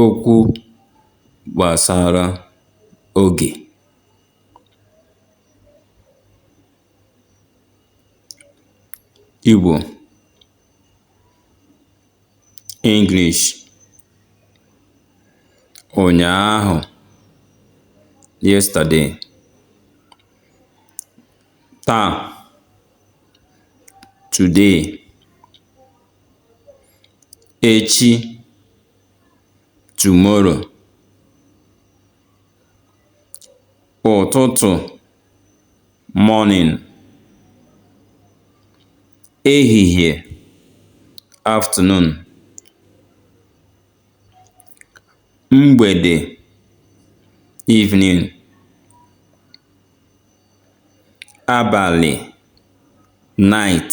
Okwu gbasara oge. Igbo English Ụnyaahụ Yesterday Taa Today echi tomorrow ụtụtụ morning ehihie afternoon mgbede evening abalị night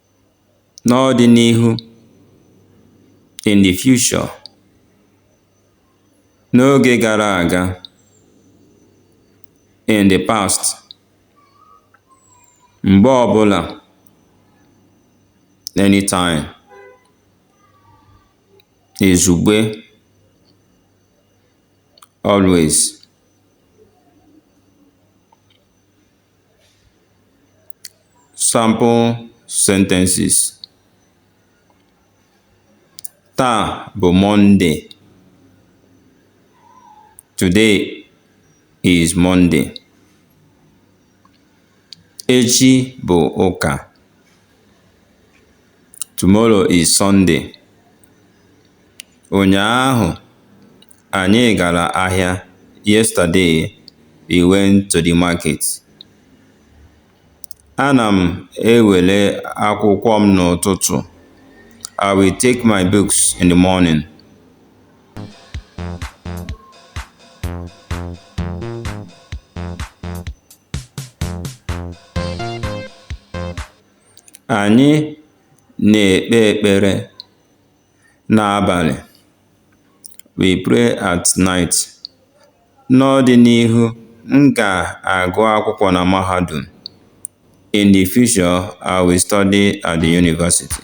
n'ọdịnihu in the future n'oge gara aga in the past mgbe ọbụla anytime izugbe always Sample sentences: Taa bụ Mọnde. Today is Monday. Echi bụ ụka. Tomorrow is Sunday. Ụnyaahụ Anyị gara ahịa. Yesterday, we went to the market. Ana m ewere akwụkwọ m n'ụtụtụ. I will take my books in the morning. Anyị na-ekpe ekpere n'abalị. We pray at night. N'ọdịnihu, m ga-agụ akwụkwọ na mahadum. In the future, I will study at the university.